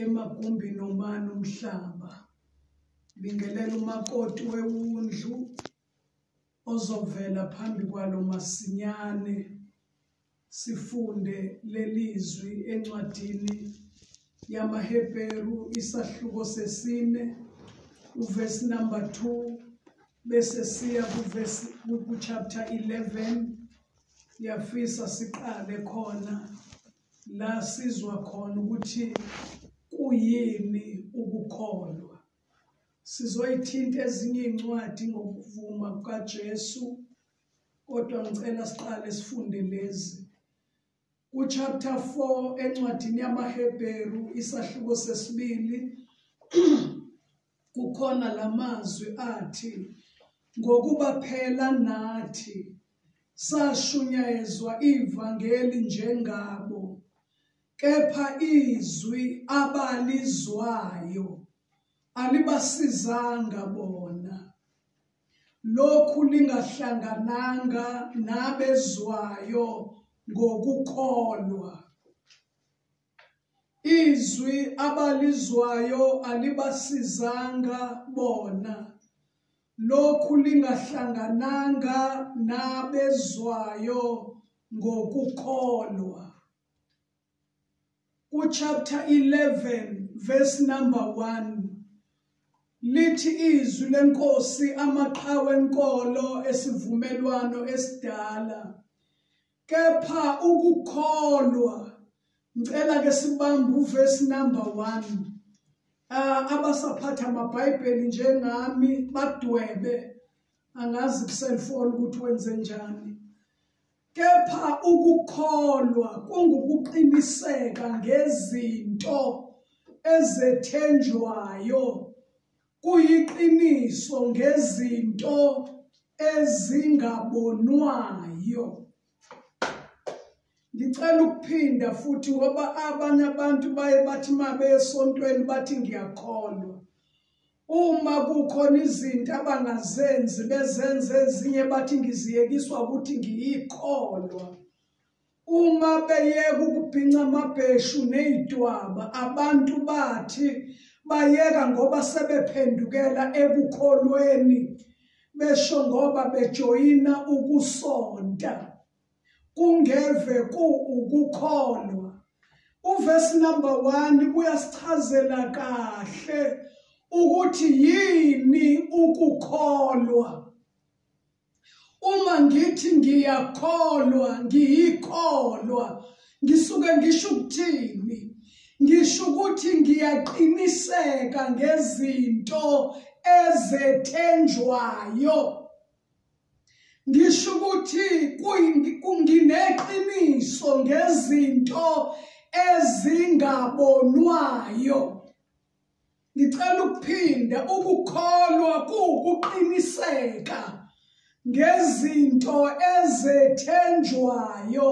emagumbini omani umhlaba bingelela umakoti wewundlu ozovela phambi kwalo masinyane sifunde lelizwi encwadini yamaHebheru isahluko sesine uvesi number 2 bese siya kuvesi ku chapter 11 yafisa siqale khona La sizwa khona ukuthi kuyini ukukholwa. Sizoyithinta ezinye iy'ncwadi ngokuvuma kukaJesu kodwa ngicela siqale sifunde lezi. Kuchapter 4 encwadini yamaHebheru isahluko sesibili Kukhona la mazwi athi, Ngokuba phela nathi sashunyayezwa ivangeli njengabo, kepha izwi abalizwayo alibasizanga bona. Lokhu lingahlangananga nabezwayo ngokukholwa. Izwi abalizwayo alibasizanga bona. Lokhu lingahlangananga nabezwayo ngokukholwa. Kuchapter 11 verse number 1 lithi izwi lenkosi amaqhawe enkolo esivumelwano esidala Kepha ukukholwa ngicela ke sibambe uverse number 1. Ah abasaphatha amaBhayibheli njengami badwebe angazi kuselfoni ukuthi wenze njani. Kepha ukukholwa kungukuqiniseka ngezinto ezethenjwayo kuyiqiniso ngezinto ezingabonwayo ngicela ukuphinda futhi ngoba abanye abantu baye bathi uma besontweni bathi ngiyakholwa uma kukhona izinto abangazenzi bezenze ezinye bathi ngiziyekiswa ukuthi ngiyikholwa Uma beyeka ukubhinca amabheshu nezidwaba abantu bathi bayeka ngoba sebephendukela ekukholweni besho ngoba bejoyina ukusonta kungeve ku ukukholwa uvesi number 1 uyasichazela kahle ukuthi yini ukukholwa uma ngithi ngiyakholwa ngiyikholwa ngisuke ngisho ukuthini ngisho ukuthi ngiyaqiniseka ngezinto ezethenjwayo ngisho ukuthi kungineqiniso ngezinto ezingabonwayo Ngicela ukuphinda ukukholwa kuwukuqiniseka ngezinto ezethenjwayo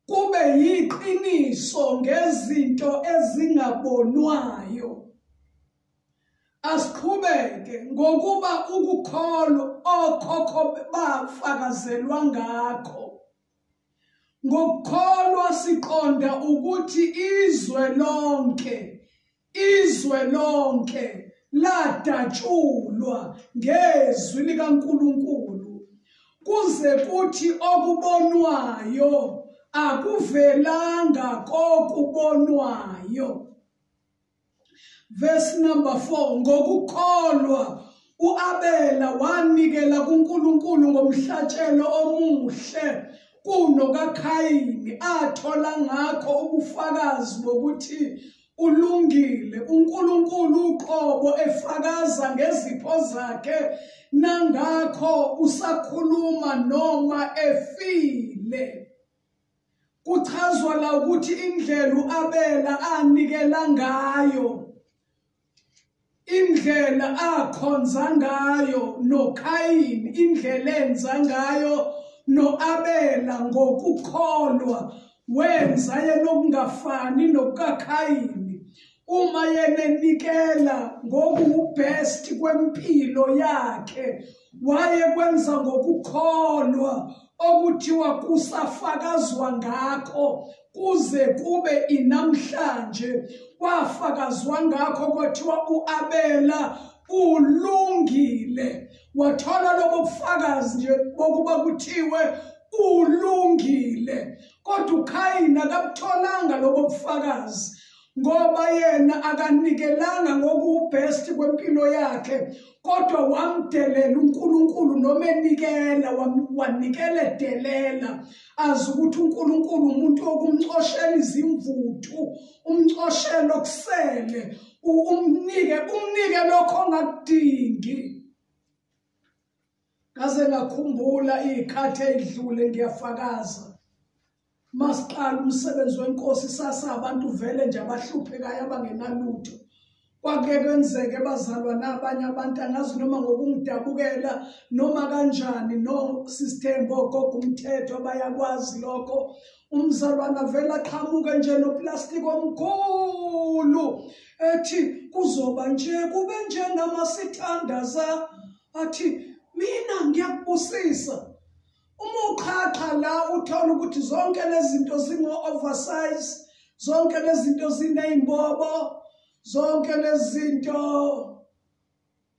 kube yiqiniso ngezinto ezingabonwayo asiqhubeke ngokuba ukukholwa okhokho bafakazelwa ngakho Ngokukholwa siqonda ukuthi izwe lonke izwe lonke ladatshulwa ngezwi likaNkuluNkulu kuze kuthi okubonwayo akuvelanga kokubonwayo Verse number 4 ngokukholwa uAbela wanikela kuNkulunkulu ngomhlatshelo omuhle kuno kaKhayini athola ngakho ubufakazi bokuthi ulungile uNkulunkulu uqobo efakaza ngezipho zakhe nangakho usakhuluma noma efile Kuchazwa la ukuthi indlela uAbela anikela ngayo indlela akhonza ngayo noKhayini indlela enza ngayo noAbela ngokukholwa wenza yena okungafani nokukaKhayini uma yena enikela ngokuwubest kwempilo yakhe wayekwenza ngokukholwa okuthiwa kusafakazwa ngakho kuze kube inamhlanje kwafakazwa ngakho kwathiwa uAbela ulungile wathola lobo bufakazi nje bokuba kuthiwe ulungile kodwa uKhayini akabutholanga lobo bufakazi ngoba yena akanikelanga ngokubest kwempilo yakhe kodwa wamdelela uNkulunkulu noma enikela wanikele delela azi ukuthi uNkulunkulu umuntu okumcoshela izimvuthu umcoshela okusele umnike umnike lokho ongakudingi ngaze ngakhumbula izikhathi ezidlule ngiyafakaza masiqala umsebenzi wenkosi sasa abantu vele nje abahluphekayo abangenalutho kwake kwenzeke bazalwana abanye abantu angazi noma ngokungidabukela noma kanjani no sistembo gogo umthetho bayakwazi lokho umzalwana vela qhamuke nje noplastiki omkhulu ethi kuzoba nje kube njengamasithandaza athi mina ngiyakubusisa Uma uqhaqha la uthola ukuthi zonke lezinto zingo-oversize, zonke lezinto ziney'mbobo, zonke lezinto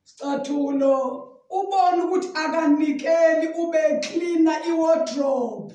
scathulo ubona ukuthi akanikeli ube cleaner iwardrobe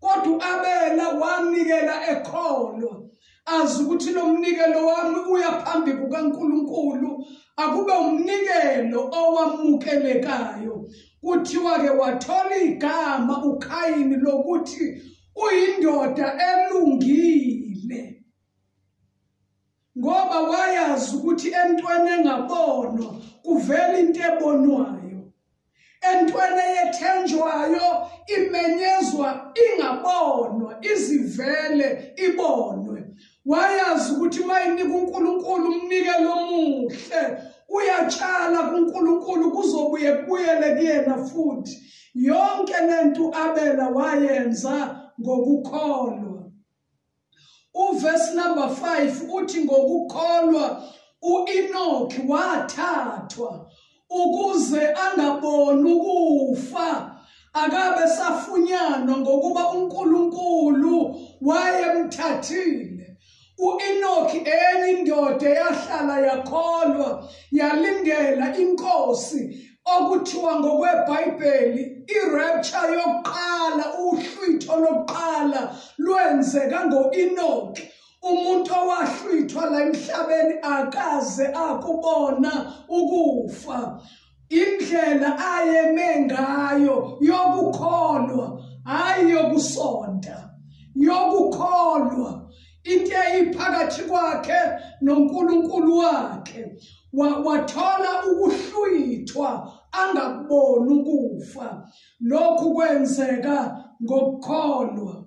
kodwa uAbela wanikela ekholwa azi ukuthi lo mnikelo wami uya phambi kukaNkuluNkulu akube umnikelo owamukelekayo kuthiwa ke wathola igama uKhayini lokuthi uyindoda elungile ngoba wayazi ukuthi entweni engabonwa kuvela into ebonwayo entweni eyethenjwayo imenyezwa ingabonwa izivele ibonwe wayazi ukuthi mayinika uNkulunkulu umnikelo omuhle uyatshala kuNkulunkulu kuzobuye kubuyele kuyena futhi yonke lento abela wayenza ngokukholwa Uverse number 5 uthi ngokukholwa uEnoki wathathwa ukuze angaboni ukufa akabe safunyanwa ngokuba uNkulunkulu wayemthathile uEnoki enye indoda yahlala yakholwa yalindela inkosi okuthiwa ngokweBhayibheli irapture yokuqala uhlwitho lokuqala lwenzeka ngoEnoki umuntu owahlwithwa la emhlabeni akaze akubona ukufa indlela ayeme ngayo yokukholwa hayi yokusonta yokukholwa into eyiphakathi kwakhe noNkulunkulu wakhe wathola ukuhlwithwa angakuboni ukufa lokhu kwenzeka ngokukholwa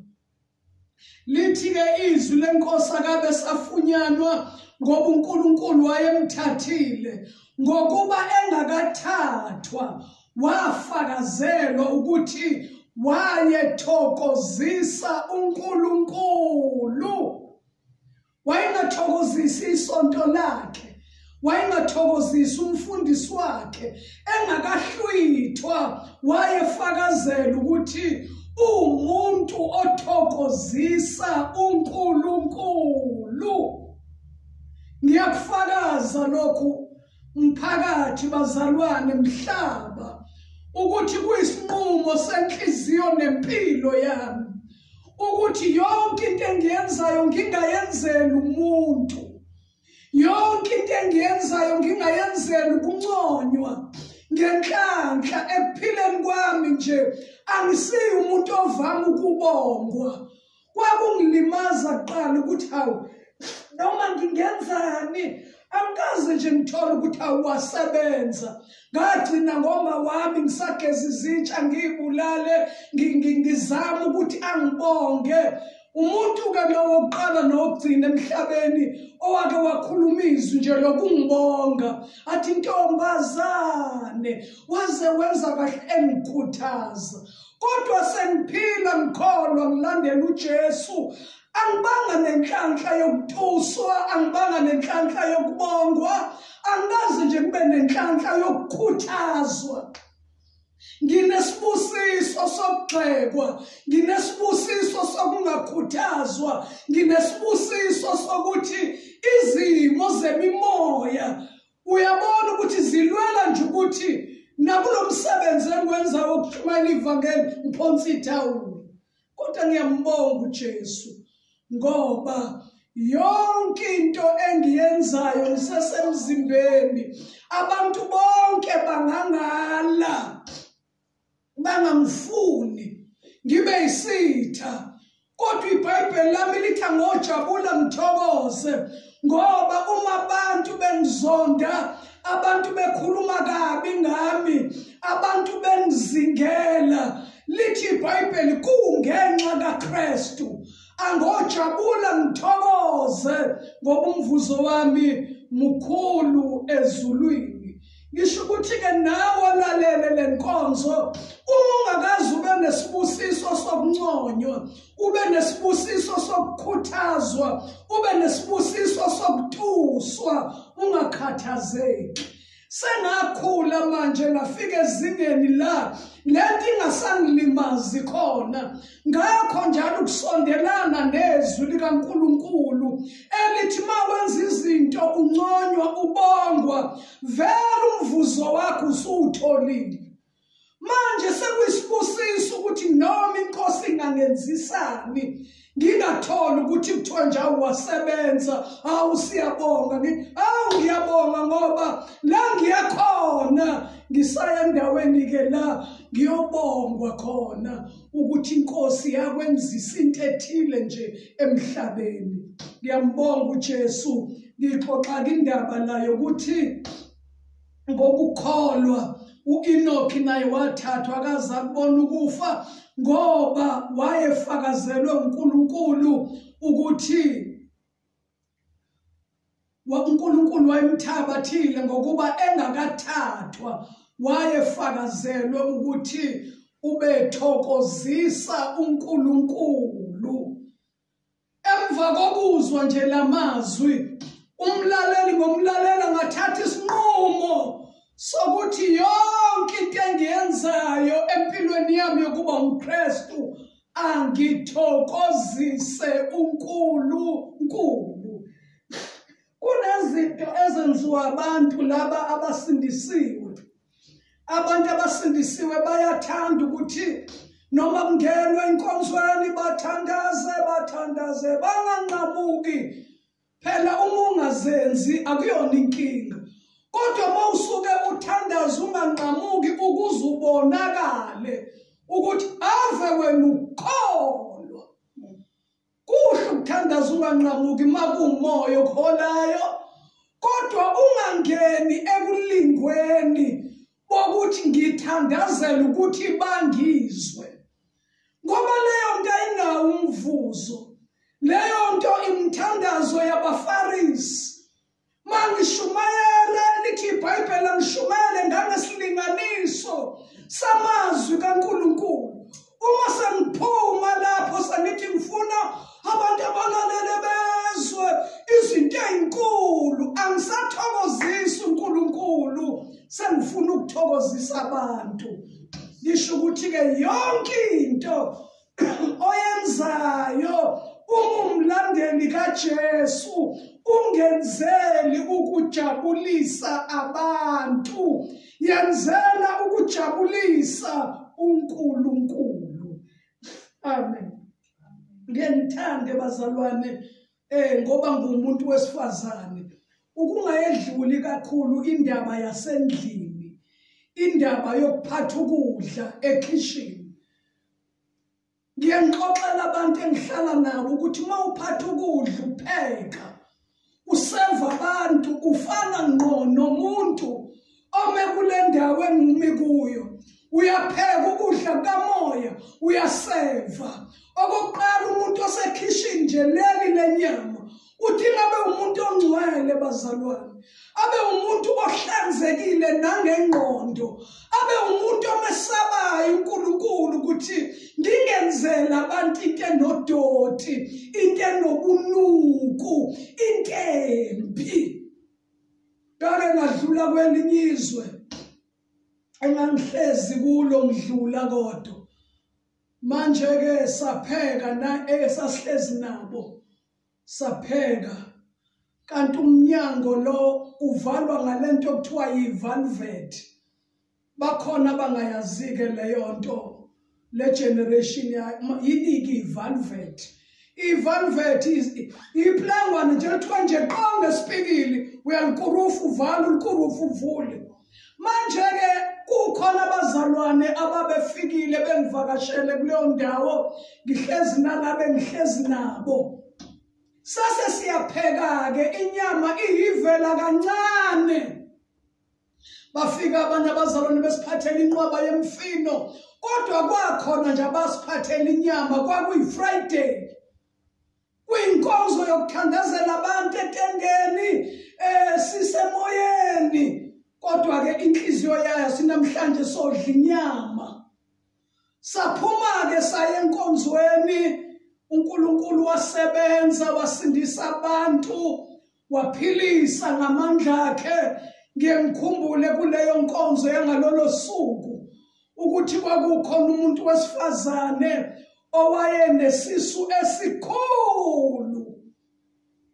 lithi-ke izwi lenkosi akabe safunyanwa ngoba uNkulunkulu wayemthathile ngokuba engakathathwa wafakazelwa ukuthi wayethokozisa uNkulunkulu wayengathokozisi isonto lakhe wayengathokozisi umfundisi wakhe engakahlwithwa wayefakazela ukuthi umuntu othokozisa uNkulunkulu ngiyakufakaza lokhu Mphakathi bazalwane mhlaba ukuthi kuyisinqumo senhliziyo nempilo yami ukuthi yonke into engiyenzayo ngingayenzeli umuntu yonke into engiyenzayo ngingayenzeli ukunconywa ngenhlanhla ekuphileni kwami nje angisiyi umuntu ovama ukubongwa kwakungilimaza kuqala ukuthi hawu noma ngingenzani angikaze nje ngithole ukuthi awasebenza ngagcina ngoma wami ngisageza izitsha ngiyibulale ngizama ukuthi angibonge umuntu-ke nowokuqala nokugcina emhlabeni owake wakhuluma izwi nje lokungibonga athi ntombazane waze wenza kahle engikhuthaza kodwa sengiphila ngikholwa ngilandela uJesu angibanga nenhlanhla yokutuswa angibanga nenhlanhla yokubongwa angikaze nje kube nenhlanhla yokukhuthazwa nginesibusiso sokugxekwa nginesibusiso sokungakhuthazwa nginesibusiso sokuthi izimo zemimoya uyabona ukuthi zilwela nje ukuthi nakulo msebenzi engiwenzayo wokushumayela ivangeli ngiphonsa ithawula kodwa ngiyambonga uJesu ngoba yonke into engiyenzayo ngisesemzimbeni abantu bonke bangangala bangangifuni ngibe yisitha kodwa ibhayibheli lami lithi angojabula ngithokoze ngoba uma abantu bengizonda abantu bekhuluma kabi ngami abantu bengizingela lithi ibhayibheli kungenxa kakristu angojabula ngithokoze ngoba umvuzo wami mukhulu ezulwini ngisho ukuthi-ke nawe olalele le nkonzo uma ungakazi ube nesibusiso sokunconywa ube nesibusiso sokukhuthazwa ube nesibusiso sokutuswa ungakhathazeki sengakhula manje ngafika ezingeni la lento ingasangilimazi khona ngakho njalo ukusondelana nezwi likaNkulunkulu elithi uma wenza izinto unconywa ubongwa vele umvuzo wakho usuwutholile manje sekuyisibusiso ukuthi noma inkosi ingangenzisani ngingatholi ukuthi kuthiwa njalo wasebenza hawu siyabonga hawu ngiyabonga ngoba la ngiyakhona ngisaya endaweni-ke la ngiyobongwa khona ukuthi inkosi yakwenzisa into ethile nje emhlabeni ngiyambonga uJesu ngixoxa indaba nayo ukuthi ngokukholwa uEnoki naye wathathwa akaza kubona ukufa ngoba wayefakazelwe uNkulunkulu ukuthi uNkulunkulu wayemthabathile ngokuba engakathathwa wayefakazelwe ukuthi ubethokozisa uNkulunkulu emva kokuzwa nje lamazwi umlaleli ngomlalela ngathatha isinqumo sokuthi yonke into engiyenzayo empilweni yami yokuba umKristu angithokozise uNkulunkulu. Kunezinto ezenziwa abantu laba abasindisiwe. Abantu abasindisiwe bayathanda ukuthi noma kungenwe enkonzweni bathandaze bathandaze banganqamuki phela uma ungazenzi akuyona inkinga kodwa uma usuke uthandaza unganqamuki ukuze ubonakale ukuthi ave wena ukholwa kuhle ukuthandaza unganqamuki uma kuwumoya okuholayo kodwa ungangeni ekulingweni bokuthi ngithandazela ukuthi bangizwe ngoba leyo nto ayinawo umvuzo leyo nto imithandazo yabafarisi mangishumayele lithi ibhayibheli angishumayele ngangesilinganiso samazwi kankulunkulu uma sengiphuma lapho sengithi ngifuna abantu abalalele bezwe izinto ezinkulu angisathokozisi uNkulunkulu sengifuna ukuthokozisa abantu lisho ukuthi ke yonke into oyenzayo ungumlandeli kaJesu ungenzeli ukujabulisa abantu yenzela ukujabulisa uNkulunkulu amen ngiyangithanda bazalwane eh ngoba ngumuntu wesifazane ukungayedluli kakhulu indaba yasendlini indaba yokuphatha ukudla ekhishini ngiyangixoxela abantu engihlala nabo ukuthi uma uphatha ukudla upheka useva abantu ufana ngqo nomuntu ome kule ndawo engumi kuyo uyapheka ukudla kukamoya uyaseva okokuqala umuntu osekhishini nje leli lenyama uthi ngabe umuntu ongcwele bazalwane abe umuntu ohlanzekile nangengqondo abe umuntu omesabayo uNkulunkulu ukuthi ngingenzela abantu into enodoti into enobunuku into embi kake ngadlula kwelinye izwe engangihlezi kulo ngidlula kodwa manje ke sapheka na esasihlezi eh, nabo sapheka kanti umnyango lo uvalwa ngalento okuthiwa yivalvet bakhona abangayazike leyo nto le generation yiniki ivalvet ivalvet iplangwane nje kuthiwa nje qo ngesipikili uyalukurufu uvale ulukurufu uvule manje-ke kukhona abazalwane ababefikile bengivakashele kuleyo ndawo ngihlezi nangabe ngihlezi nabo sase siyapheka-ke inyama ihivela kancane bafika abantu abazalwane besiphathela inqwaba yemfino kodwa kwakhona nje abasiphathela inyama kwakuyi-friday kwinkonzo yokuthandazela abantu etendeni um sisemoyeni kodwa-ke inhliziyo yayo sinamhlanje sodla inyama Saphuma-ke saya enkonzweni, uNkulunkulu wasebenza wasindisa abantu, waphilisa ngamandla akhe. Ngiye ngikhumbule kuleyo nkonzo yangalolo suku ukuthi kwakukhona umuntu wesifazane owayenesisu esikhulu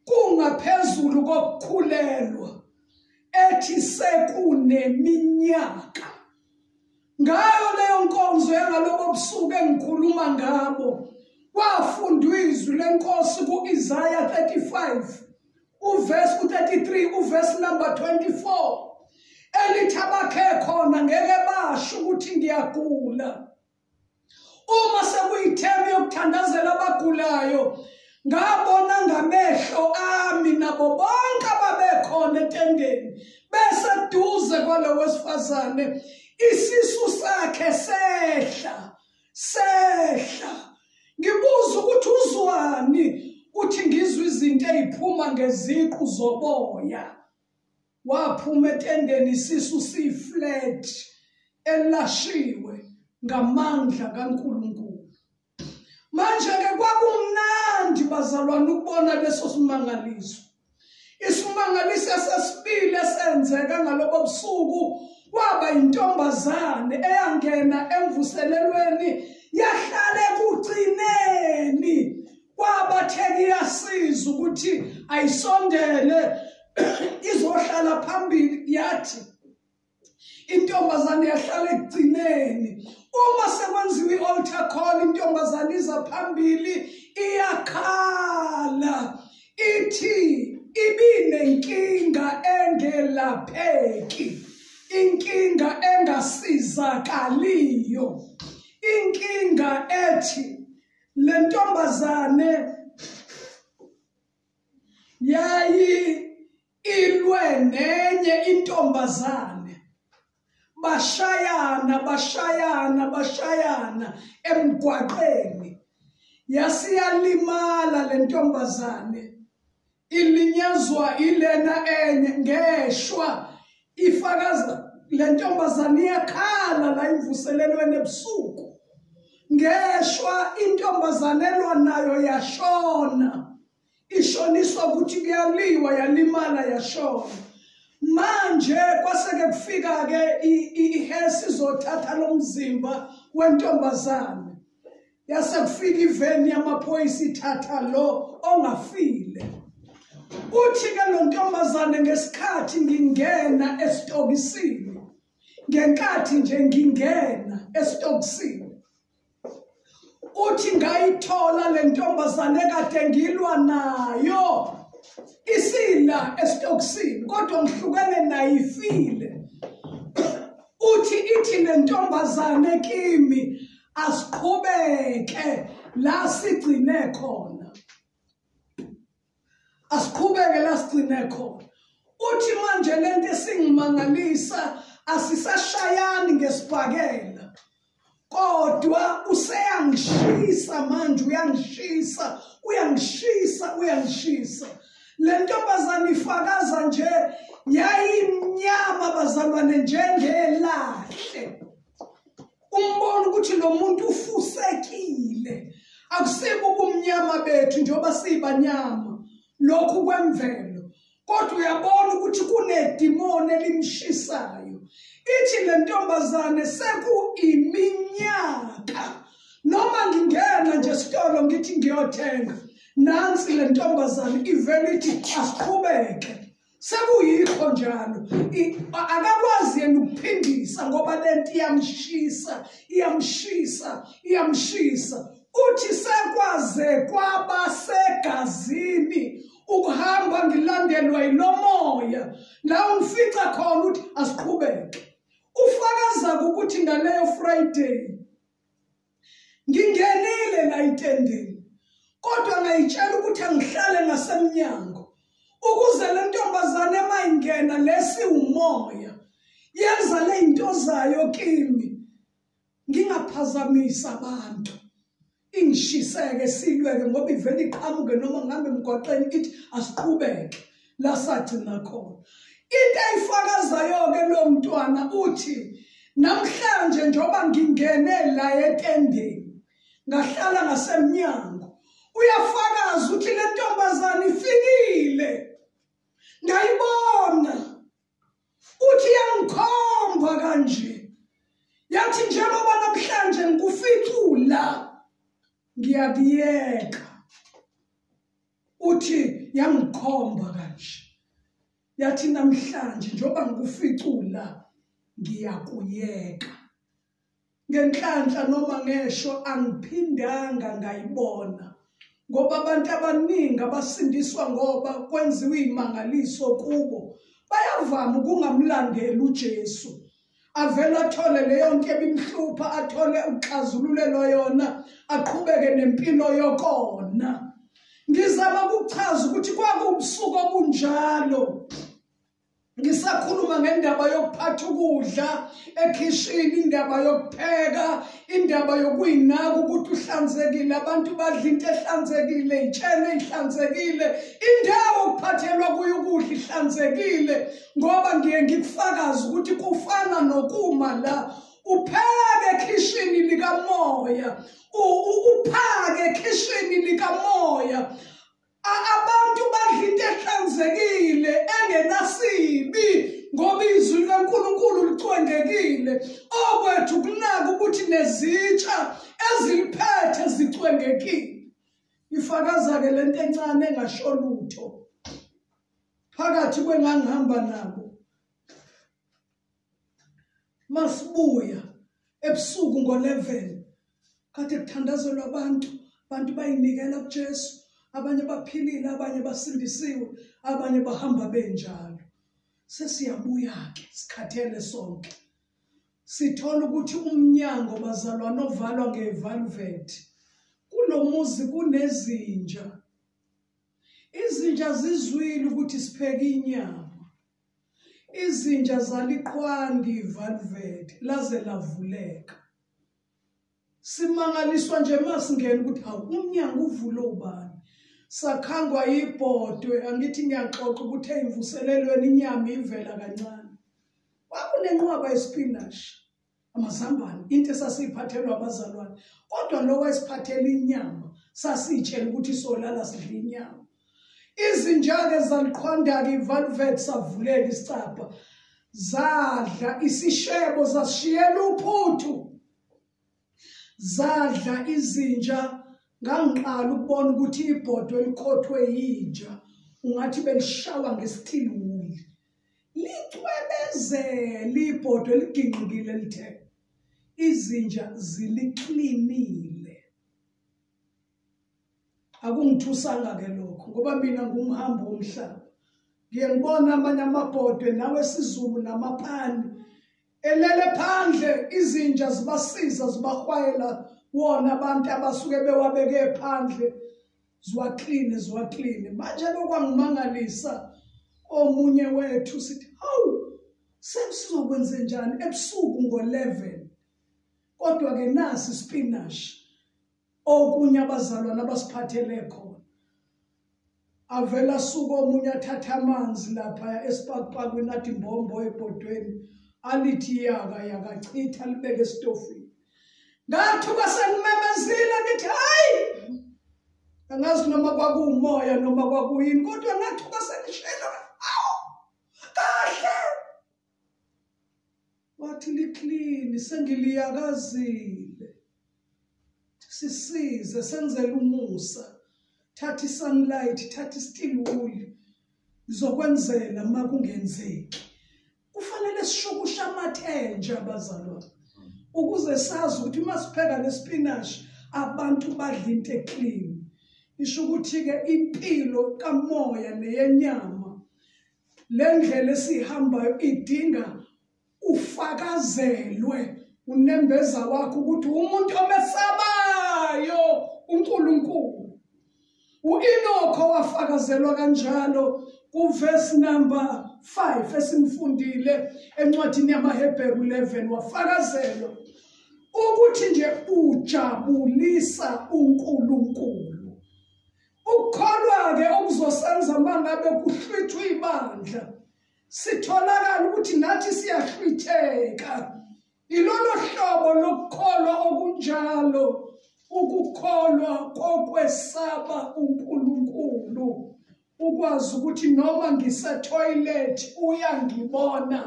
kungaphezulu kokukhulelwa ethi sekuneminyaka ngayo leyo nkonzo yangalobo busuku engikhuluma ngabo kwafundwa izwi lenkosi ku-isaya 35 uvesi ku-33 uvesi number 24 elithi abakhe khona ngeke basho ukuthi ngiyagula uma sekuyithemu yokuthandazela abagulayo ngabona ngamehlo ami nabo bonke ababekhona etendeni bese duze kwalo wesifazane isisu sakhe sehla sehla ngibuza ukuthi uzwani uthi ngizwa izinto eziphuma ngeziqu zoboya waphuma etendeni isisu siflat elashiwe ngamandla kaNkuluNkulu manje ke kwakumnandi bazalwana ukubona leso simangaliso isimangaliso sesibili esenzeka ngalobo busuku kwaba intombazane eyangena emvuselelweni yahlale kugcineni kwabatheka iyasiza ukuthi ayisondele izohlala phambili yathi intombazane yahlala ekugcineni uma sekwenziwa i-altar call intombazane iza phambili iyakhala ithi ibinenkinga engelapheki inkinga engasizakaliyo inkinga ethi lentombazane yayi ilwe nenye intombazane bashayana bashayana bashayana emgwaqeni yasiyalimala lentombazane ilinyazwa ilena enye ngeshwa ifakaza le ntombazane iyakhala la imvuselelweni ebusuku ngeshwa intombazane elwa nayo yashona ishoniswa ukuthi kuyaliwa yalimala yashona manje kwaseke kufika-ke ihesi izothatha lo mzimba wentombazane yase kufika iveni yamaphoyisa ithatha lo ongafile uthi-ke lo ntombazane ngesikhathi ngingena esitokisini ngenkathi nje ngingena esitokisini uthi ngayithola le ntombazane kade ngilwa nayo isila esitokisini kodwa ngihlukene nayo ifile uthi ithi le ntombazane kimi asiqhubeke la sigcine khona asiqhubeke la sigcine khona uthi manje lento esingimangalisa asisashayani ngesibhakela kodwa useyangishisa manje uyangishisa uyangishisa uyangishisa le ntombazane ifakaza nje yayimnyama bazalwane njengelahle umbona ukuthi lo muntu ufusekile akusibo ubumnyama bethu njengoba siyibanyama lokhu kwemvelo kodwa uyabona ukuthi kunedimoni elimshisayo ithi le ntombazane sekuiminyaka noma ngingena nje esitolo ngithi ngiyothenga nansi le ntombazane ivele ithi asiqhubeke sekuyikho njalo akakwazi yena ukuphindisa ngoba lento iyamshisa iyamshisa iyamshisa uthi sekwaze kwaba segazini ukuhamba ngilandelwa yilomoya la ungifica khona ukuthi asiqhubeke ufakaza ukuthi ngaleyo friday ngingenile la itendeni kodwa ngayitshela ukuthi angihlale ngasemnyango ukuze le ntombazane uma ingena lesi umoya yenza le zinto zayo kimi ngingaphazamisa abantu ingishiseke silweke ngoba ivele iqhamuke noma ngihambe emgwaqeni ithi asiqhubeke la sagcina khona into ayifakazayo-ke lo mntwana uthi namhlanje njengoba ngingene la etendeni ngahlala ngasemnyango uyafakaza ukuthi le ntombazane ifikile ngayibona uthi yangikhomba kanje yathi njengoba namhlanje ngikuficula ngiyakuyeka uthi yangikhomba kanje yathi namhlanje njengoba ngikuficula ngiyakuyeka ngenhlanhla noma ngesho angiphindanga ngayibona ngoba abantu abaningi abasindiswa ngoba kwenziwa izimangaliso kubo bayavama ukungamlandeli uJesu avele athole leyo nto ebimhlupha athole ukuxazululelwa yona aqhubeke nempilo yokona ngizama ukuchaza ukuthi kwakubusuku obunjalo ngisakhuluma ngendaba yokuphatha ukudla ekhishini indaba yokupheka indaba yokuyinaka ukuthi uhlanzekile abantu badla into ehlanzekile itshene ihlanzekile indawo okuphathelwa kuyo ukudla ihlanzekile ngoba ngiye ngikufakaze ukuthi kufana nokuma la upheke ekhishini likamoya uphake ekhishini likamoya abantu badla into ehlanzekile engenasibi ngoba izwi likaNkulunkulu licwengekile okwethu kunaka ukuthi nezitsha eziliphethe zicwengekile ifakaza-ke le nto encane engasho lutho phakathi kwengangihamba nabo masibuya ebusuku ngo-11 kade kuthandazelwa abantu abantu bayinikela kuJesu abanye baphilile abanye basindisiwe abanye bahamba benjalo sesiyabuya ke sikhathele sonke sithola ukuthi umnyango bazalwana ovalwa ngevalvet kulomuzi kunezinja Izinja zizwile ukuthi sipheke inyama. Izinja zaliqwandi ivalveti laze lavuleka. Simangaliswa nje masingena ukuthi hawu umnyango uvule ubani. Sakhangwa ibhodwe angithi ngiyaxoxa ukuthi eyimvuselelweni inyama ivela kancane. Kwakunenqwaba yespinashi. amazambane into esasiyiphathelwa abazalwane kodwa lo wayesiphathela inyama sasitshela ukuthi solala sidla inyama izinjake zaliqhwandaka ivalvet savuleka isicabha zadla isishebo zasishiyela uphuthu zadla izinja ngangiqala ukubona ukuthi ibhodwe elikhothwe yinja ungathi belishawa ngesithiliwuli licwebezele ibhodwe ligingqikile lithe izinja ziliklinile akungithusanga ke lokho ngoba mina ngumhambi womhlaba ngiye ngibona amanye amabhodwe nawe sizulu namapani elele phandle izinja zibasiza zibahwayela wona abantu abasuke bewabeke phandle ziwakline ziwakline manje lokwangimangalisa omunye wethu sithi hawu sesizokwenze njani ebusuku ngo-11 kodwa-ke nasi spinashi okunye abazalwane abasiphathele khona avela asuka omunye athatha amanzi lapha esipakupakweni athi mbombo ebhodweni alithi yaka yakachitha libeke esitofini ngathuka sengimemezile ngithi hayi angazi noma kwakuwumoya noma kwakuyini kodwa ngathuka sengishela wathi liklini sengiliyakazile sisize senzele umusa thatha isunlight thatha isteel wool ngizokwenzela uma kungenzeki kufanele sishukushe amathenje abazalwane ukuze sazi ukuthi uma sipheka nesipinashi abantu badla into eclean isho ukuthi-ke impilo kamoya neyenyama le ndlela esihambayo idinga ufakazelwe unembeza wakho ukuthi umuntu omesabayo uNkulunkulu uInokho wafakazelwa kanjalo kuverse number 5 esimfundile encwadini yamaHebheru 11 wafakazelwa ukuthi nje ujabulisa uNkulunkulu Ukukholwa-ke okuzosenza uma ngabe kuhlwithwa ibandla sitholakala ukuthi nathi siyahlwitheka ilolo hlobo lokukholwa okunjalo ukukholwa kokwesaba uNkulunkulu ukwazi ukuthi noma ngisetoilet uyangibona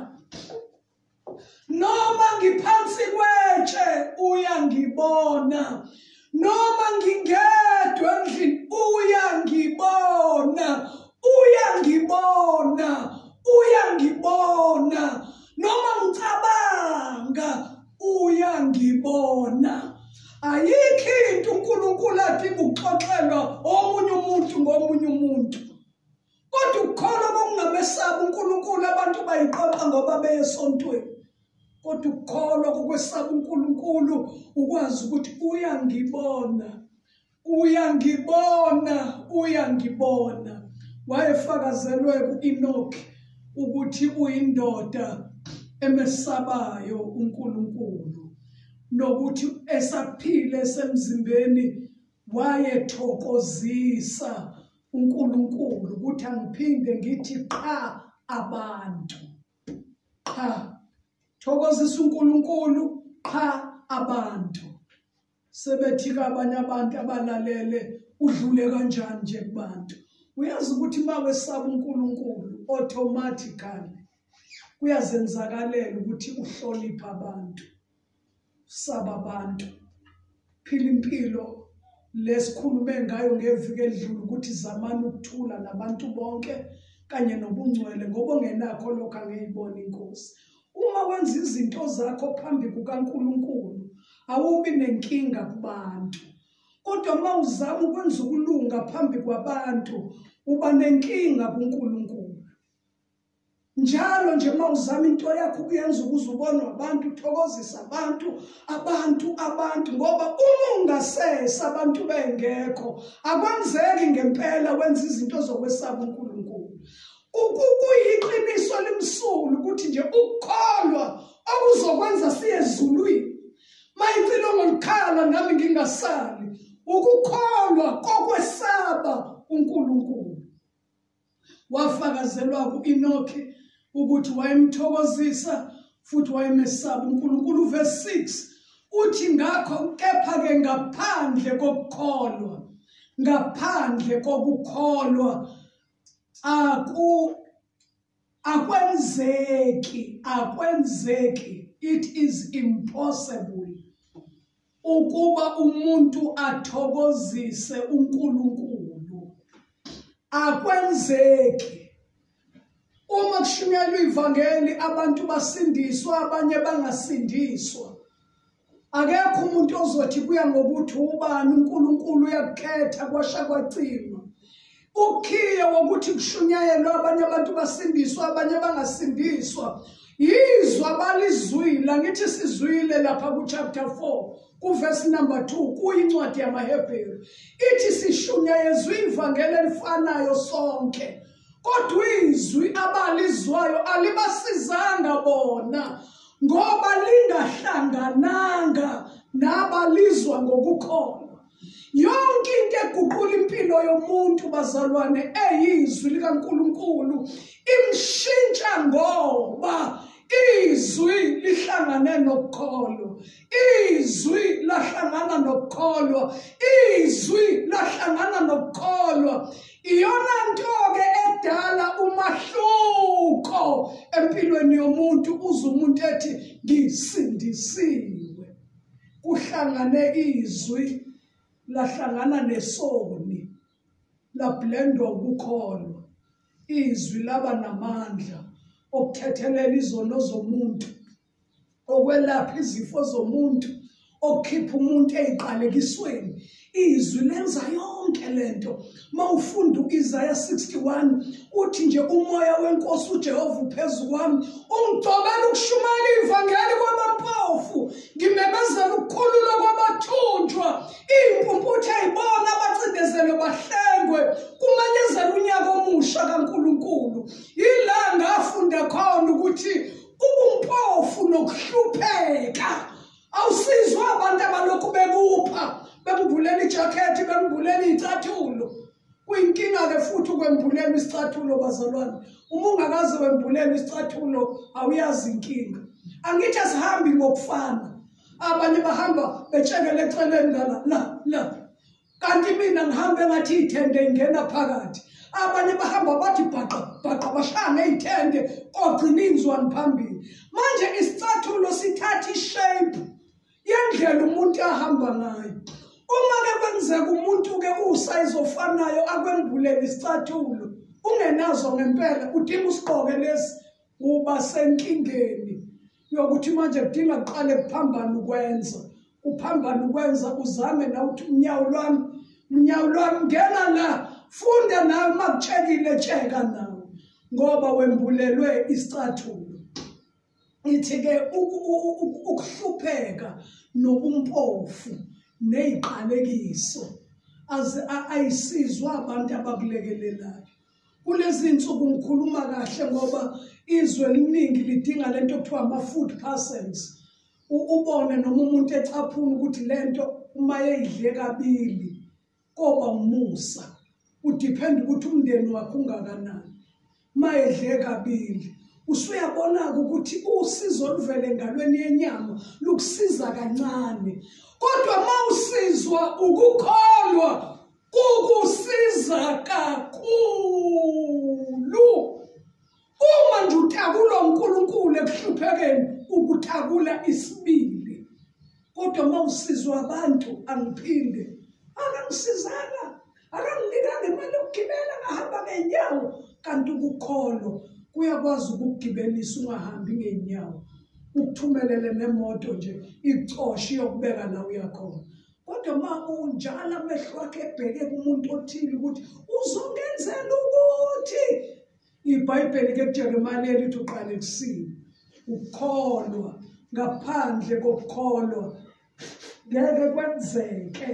noma ngiphansi kwetshe uyangibona noma ngingedwa endlini uyangibona uyangibona uyangibona noma ngicabanga uyangibona ayikho into uNkulunkulu athi kuxoxelwa omunye umuntu ngomunye umuntu kodwa ukukholwa kokungamesaba uNkulunkulu abantu bayiqoqa ngoba beye esontweni kodwa ukukholwa kokwesaba uNkulunkulu ukwazi ukuthi uyangibona uyangibona uyangibona wayefakazelwe ku-enoki ukuthi uyindoda emesabayo uNkulunkulu nokuthi esaphile semzimbeni wayethokozisa uNkulunkulu ukuthi angiphinde ngithi qha abantu qha thokozisa uNkulunkulu qha abantu sebethi kabanye abantu abalalele udlule kanjani nje kubantu uyazi ukuthi uma wesaba uNkulunkulu automatically kuyazenzakalela ukuthi uhloniphe abantu saba abantu phila impilo lesikhulume ngayo ngeviki elidlule ukuthi zamani ukuthula nabantu bonke kanye nobungcwele ngoba ongenakho lokho angeyibona inkosi uma wenza izinto zakho phambi kukaNkuluNkulu awubi nenkinga kubantu kodwa uma uzama ukwenza ukulunga phambi kwabantu uba nenkinga kuNkuluNkulu njalo nje uma uzama into yakho ukuyenza ukuze ubonwe abantu uthokozisa abantu abantu abantu ngoba uma ungasese abantu bengekho akwenzeki ngempela wenza izinto zokwesaba uNkulunkulu ukuyiqiniso limsulu ukuthi nje ukukholwa okuzokwenza siye ezulwini mayicilo ngolukhala nami ngingasali ukukholwa kokwesaba uNkulunkulu wafakazelwa ku-enoke ukuthi wayemthokozisa futhi wayemesaba unkulunkulu uvesi 6 uthi ngakho kepha-ke ngaphandle kokukholwa ngaphandle kokukholwa aku akwenzeki akwenzeki it is impossible ukuba umuntu athokozise uNkulunkulu akwenzeki uma kushunyelwa ivangeli abantu basindiswa abanye bangasindiswa akekho umuntu ozothi kuya ngokuthi ubani uNkulunkulu uyakukhetha kwasha kwacima ukhiye wokuthi kushunyayelwe abanye abantu basindiswa abanye bangasindiswa yizwa balizwile angithi sizwile lapha kuchapter 4 kuvesi number 2 kuyincwadi yamahebheru ithi sishunyayezwe ivangeli elifanayo sonke kodwa izwi abalizwayo alibasizanga bona ngoba lingahlangananga nabalizwa ngokukholwa yonke into eguqula impilo yomuntu bazalwane eyizwi likaNkuluNkulu imshintsha ngoba izwi lihlangane nokukholwa izwi lahlangana nokukholwa izwi lahlangana nokukholwa iyona nto-ke edala umahluko empilweni yomuntu uze umuntu ethi ngisindisiwe kuhlangane izwi lahlangana nesoni lablendwa ukukholwa izwi laba namandla okuthethelela izono zomuntu okwelapha izifo zomuntu okukhipha umuntu eziqalekisweni izwi lenza yonke lento mawufunda uIsaya 61 uthi nje umoya wenkosi uJehova uphezulu kwami ungigcobela ukushumayela ivangeli kwabampofu ngimemezela ukukhulula kwabathunjwa impumputhe ayibona abacindezelwe bahlengwe kumanyezela unyaka omusha kaNkuluNkulu yila ngafunda khona ukuthi ubumpofu nokuhlupheka awusizwa abantu abalokhu bekupha bekubhulela ijakhethi bekubhulela iy'cathulo kuyinkinga-ke futhi ukwembulelwa isicathulo bazalwane uma ungakaze wembulelwa isicathulo awuyazi inkinga angithi asihambi ngokufana abanye bahamba betshekele eceleni lana la la kanti mina ngihambe ngathi iy'thende ingena phakathi abanye bahamba bathi bhaqa bhaqa bashaya ngey'thende kogcina inzwani phambili manje isicathulo sithatha ishape yendlela umuntu ahamba ngayo uma-ke kwenzeka umuntu-ke uwusayizi ofanayo akwembulele isicathulo ungenazo ngempela udinga usigqoke lesi uba senkingeni yokuthi manje kudinga kuqale kuphambana ukwenza kuphambana ukwenza uzame na ukuthi unyawo lwami unyawo lwami ngena la funda nawe uma kutshekile tsheka nawe ngoba wembulelwe isicathulo ithi-ke ukuhlupheka nobumpofu neyiqalekiso ayisizwa abantu abakulekelelayo kulezi nsuku ngikhuluma kahle ngoba izwe eliningi lidinga lento okuthiwa ama-food parcels ubone noma umuntu ecaphuna ukuthi lento uma yeyidle kabili koba umusa udiphenda ukuthi umndeni wakhe ungakanani uma edle kabili usuyabona-ke ukuthi usizo oluvele engalweni yenyama lukusiza kancane kodwa uma usizwa ukukholwa kukusiza kakhulu uma nje utakula uNkulunkulu ekuhluphekeni ukutakula isibili kodwa uma usizwa abantu angiphinde akangisizanga akanginikanga imali yokugibela ngahamba ngenyawo kanti ukukholo kuyakwazi ukugibelisa ungahambi ngenyawo ukuthumelele nemoto nje icoshe iyokubeka la uyakhona kodwa uma unjalo amehlo wakhe ebheke kumuntu othile ukuthi uzongenzela ukuthi ibhayibheli ke kujeremane elithi uqale kusini ukukholwa ngaphandle kokukholwa ngeke kwenzeke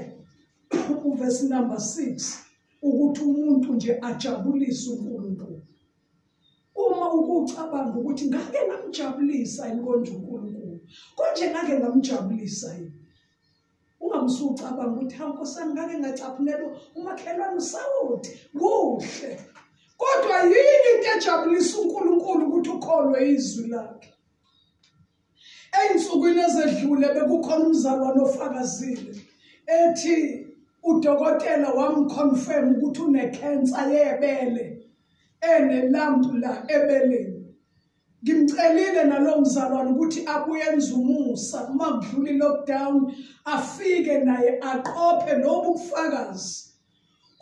uvesi number 6 ukuthi umuntu nje ajabulise uNkulunkulu uma ukucabanga ukuthi ngake ngamjabulisa inkonzo uNkulunkulu konje ngake ngamjabulisa yini ungamsucabanga ukuthi hawu nkosami ngake ngacaphunelwa umakhelwane usawoti kuhle kodwa yini into ejabulisa unkulunkulu ukuthi ukholwe izwi lakhe ey'nsukwini ezedlule bekukhona umzalwane ofakazile ethi udokotela wamconfirm ukuthi unekhensa yebele enelambu la ebeleni ngimcelile nalo mzalwane ukuthi akuyenza umusa uma kudlula i-lockdown afike naye aqophe lobu bufakazi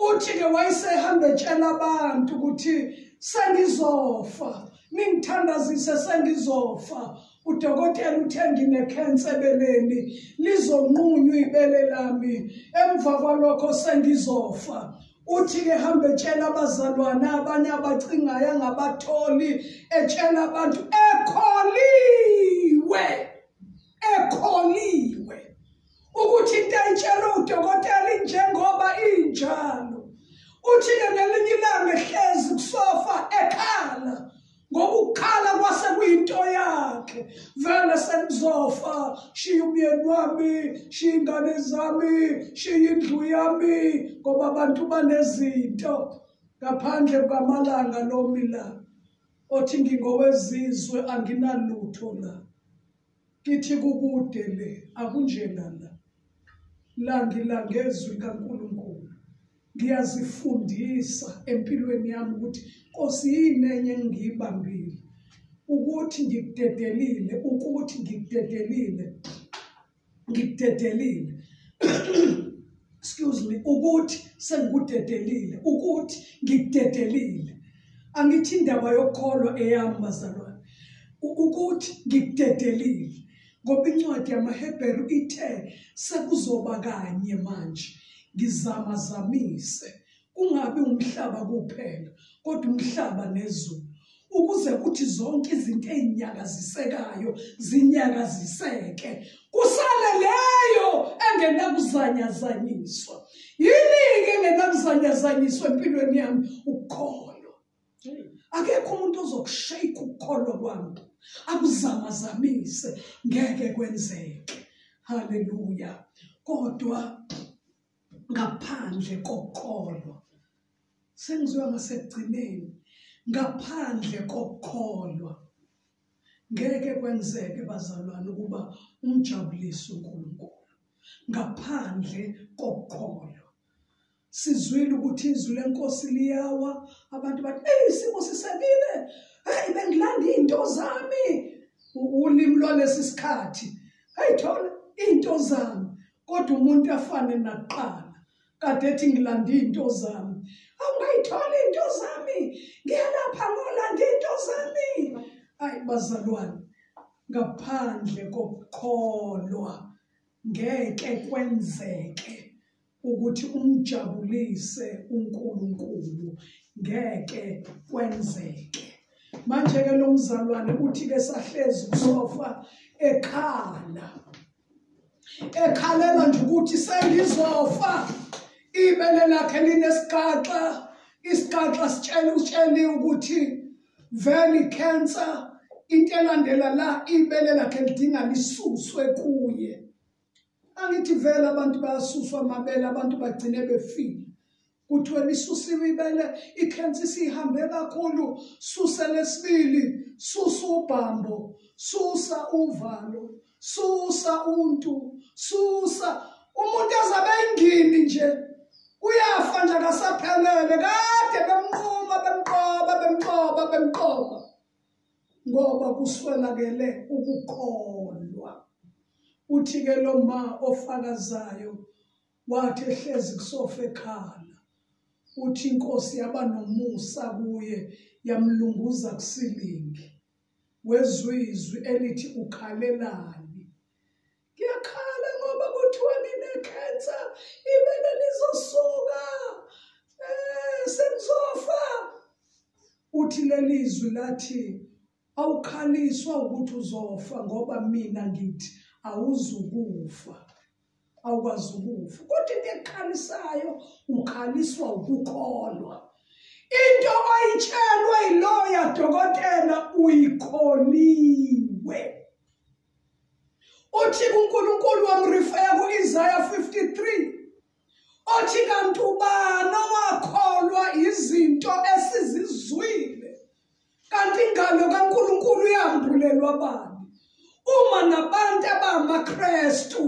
uthi-ke wayesehamba etshela abantu ukuthi sengizofa ningithandazise sengizofa udokotela uthe nginekhensa ebeleni lizonqunywa ibele lami emva kwalokho sengizofa uthi-ke hambe etshela abazalwane abanye abacingayo angabatholi etshela abantu ekholiwe ekholiwe ukuthi into ayitshelwe udokotela injengoba injalo uthi-ke ngelinye ilanga ehlezi kusofa ekhala ngokukhala kwase kuyinto yakhe vele sengizofa shiya umyeni wami shiya ingane zami shiya indlu yami ngoba abantu banezinto ngaphandle kwamalanga lomi la othi ngingowezizwe anginalutho la Kithi kukude le akunjena la. La ngilangezwi kaNkulunkulu. Ngiyazifundisa empilweni yami ukuthi Nkosi yini enye engiyibambile ukuthi ngikudedelile ukuthi ngikudedelile ngikudedelile excuse me ukuthi sengikudedelile ukuthi ngikudedelile angithi indaba yokukholwa eyami bazalwane ukuthi ngikudedelile ngoba incwadi yamaHebheru ithe sekuzoba kanye manje ngizama zamise kungabi umhlaba kuphela kodwa umhlaba nezulu ukuze kuthi zonke izinto ezinyakazisekayo zinyakaziseke kusale leyo engenakuzanyazanyiswa yini ke engenakuzanyazanyiswa empilweni yami ukukholwa akekho umuntu ozokushayika ukukholwa kwami akuzamazamise ngeke kwenzeke haleluya kodwa ngaphandle kokholwa sengizoya ngasekugcineni ngaphandle kokukholwa ngeke kwenzeke bazalwane ukuba umjabulise uNkulunkulu ngaphandle kokukholwa sizwile ukuthi izwi lenkosi liyawa abantu bathi hey isimo sisekile hey bengilanda into zami ulimi lwalesi sikhathi hey thola into zami kodwa umuntu afane nakuqala kade ethi ngilanda izinto zami awungayithola izinto zami ngiyalapha ngolanda izinto zami ayi bazalwane ngaphandle kokukholwa ngeke kwenzeke ukuthi umjabulise uNkulunkulu ngeke kwenzeke manje ke lo mzalwane uthi ke sahlezi kusofa ekhala ekhalela nje ukuthi sengizofa ibele lakhe linesixaxa isixaxa sitshela utshele ukuthi vele cancer into elandela la ibele lakhe lidinga lisuswe kuye angithi vele abantu bayasuswa amabele abantu bagcine befile kuthiwe lisusiwe ibele ikhensa isihambe kakhulu susa lesibili susa ubhambo susa uvalo susa untu susa umuntu ezabe ingini nje uyafa nje akasaphelele kade bemnquma bemqoba bemqoba bemqoba ngoba kuswelakele ukukholwa uthi ke lo ma ofakazayo wathi ehlezi kusofa ekhala uthi inkosi yaba nomusa kuye yamlunguza kusilingi wezwe izwi elithi ukhalelani ngiyakhala ngoba kuthiwa nginekhensa ibele lizosuka um sengizofa uthi leli zwi lathi Awukhaliswa ukuthi uzofa ngoba mina ngithi awuzukufa. Awukwazi ukufa. Kodwa into ekhalisayo ukhaliswa ukukholwa. Into oyitshelwe iloya dokotela uyikholiwe. Uthi uNkulunkulu wamrifeya kuIsaiah 53 othi kanti ubani owakholwa yizinto esizizwile kanti ingalo kaNkulunkulu iyambulelwa bani uma nabantu abamaKristu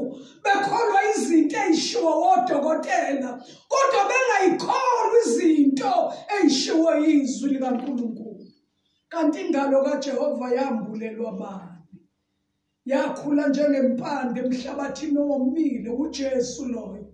bekholwa izinto ezishiwo odokotela kodwa bengayikholwa izinto ezishiwo izwi likaNkulunkulu kanti ingalo kaJehova yambulelwa bani yakhula njengempande emhlabathini owomile uJesu loyo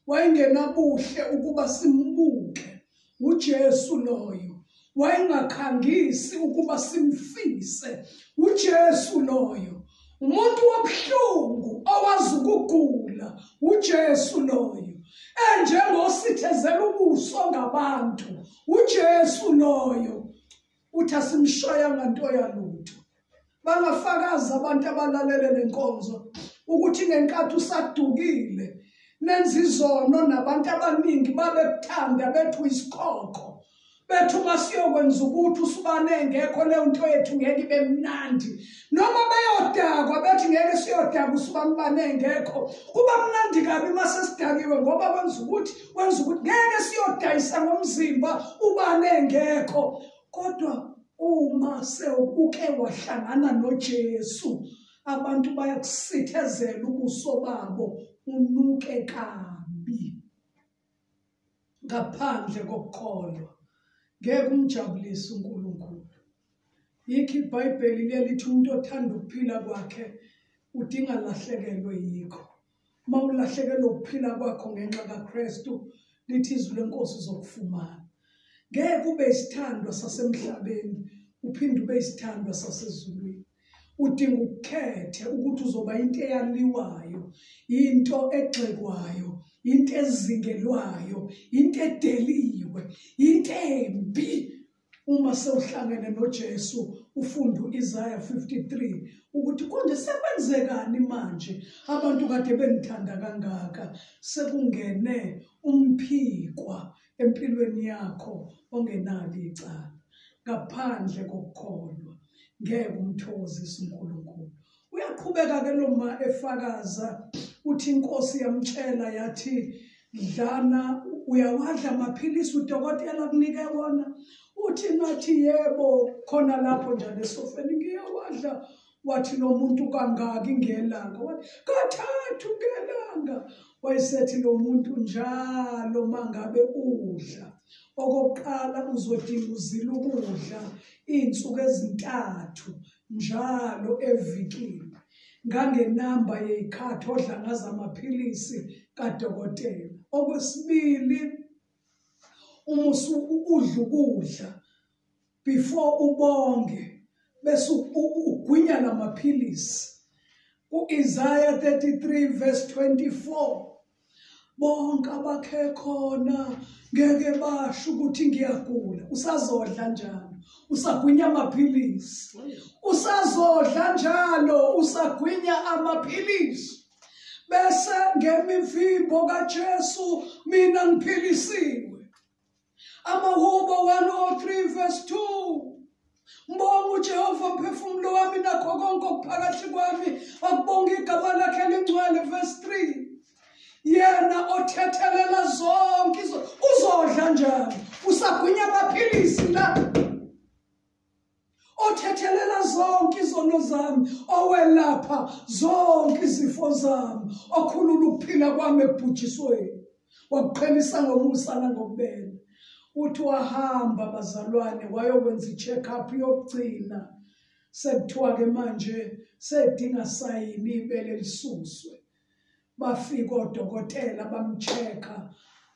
wayengenabuhle ukuba simbuke uJesu loyo wayengakhangisi ukuba simfise uJesu loyo umuntu wobuhlungu owazi ukugula uJesu loyo enjengosithezela ubuso ngabantu uJesu loyo uthi asimshayanga nto yalutho bangafakazi abantu abalalele le nkonzo ukuthi ngenkathi usadukile nenza izono nabantu abaningi babekuthanda bethu isikhokho bethu masiyokwenza ukuthi usibane engekho leyo nto yethu ngeke ibe mnandi noma beyodakwa bethi ngeke siyodakwa usibambane engekho kuba mnandi kabi uma sesidakiwe ngoba kwenza ukuthi kwenza ukuthi ngeke siyodayisa ngomzimba ubane engekho kodwa uma sewuke wahlangana noJesu abantu bayakusithezela ubuso babo unuke kabi ngaphandle kokukholwa ngeke umjabulise uNkulunkulu yikho iBhayibheli lelithi umuntu othanda ukuphila kwakhe udinga lahlekelwe yikho uma ulahlekelwe ukuphila kwakho ngenxa kaKristu lithi izwi lenkosi uzokufumana ngeke ube isithandwa sasemhlabeni uphinde ube isithandwa sasezulwini udinga ukukhethe ukuthi uzoba into eyaliwayo into egxekwayo into ezingelwayo into edeliwe into embi uma sewuhlangene noJesu ufunda uIsaya 53 ukuthi konje sekwenzekani manje abantu kade benithanda kangaka sekungene umphikwa empilweni yakho ongenalo icala ngaphandle kokukholwa ngeke umthokozise uNkulunkulu uyaqhubeka ke lo ma efakaza uthi inkosi yamtshela yathi dlana uyawadla amaphilisi udokotela kunike wona uthi ngathi yebo khona lapho njalo esofeni ngiyawadla wathi lo muntu kangaki ngelanga wathi kathathu ngelanga wayesethi lo muntu njalo mangabe udla okokuqala uzodinga uzila ukudla iy'nsuku ezintathu njalo evikini ngangenamba yey'khathi odla ngazo amaphilisi kadokotela okwesibili uma udla ukudla before ubonge bese ugwinya lamaphilisi uIsaya 33 verse 24 bonke abakhe khona ngeke basho ukuthi ngiyagula usazodla njalo usagwinya amaphilisi usazodla njalo usagwinya amaphilisi bese ngemivimbo kaJesu mina ngiphilisiwe Amahubo 103 verse 2 Mbonga uJehova mphefumulo wami nakho konke okuphakathi kwami akubonga igama lakhe elingcwele verse 3 yena othethelela zonke uzodla njani usagwinya amaphilisi la othethelela zonke izono zami owelapha zonke izifo zami okhulula ukuphila kwami ebhujisweni wakuqhelisa ngomusa nangokubela uthi wahamba bazalwane wayokwenza i-check up yokugcina sekuthiwa-ke manje sedinga sayini ibele lisuswe bafika odokotela bamcheck-a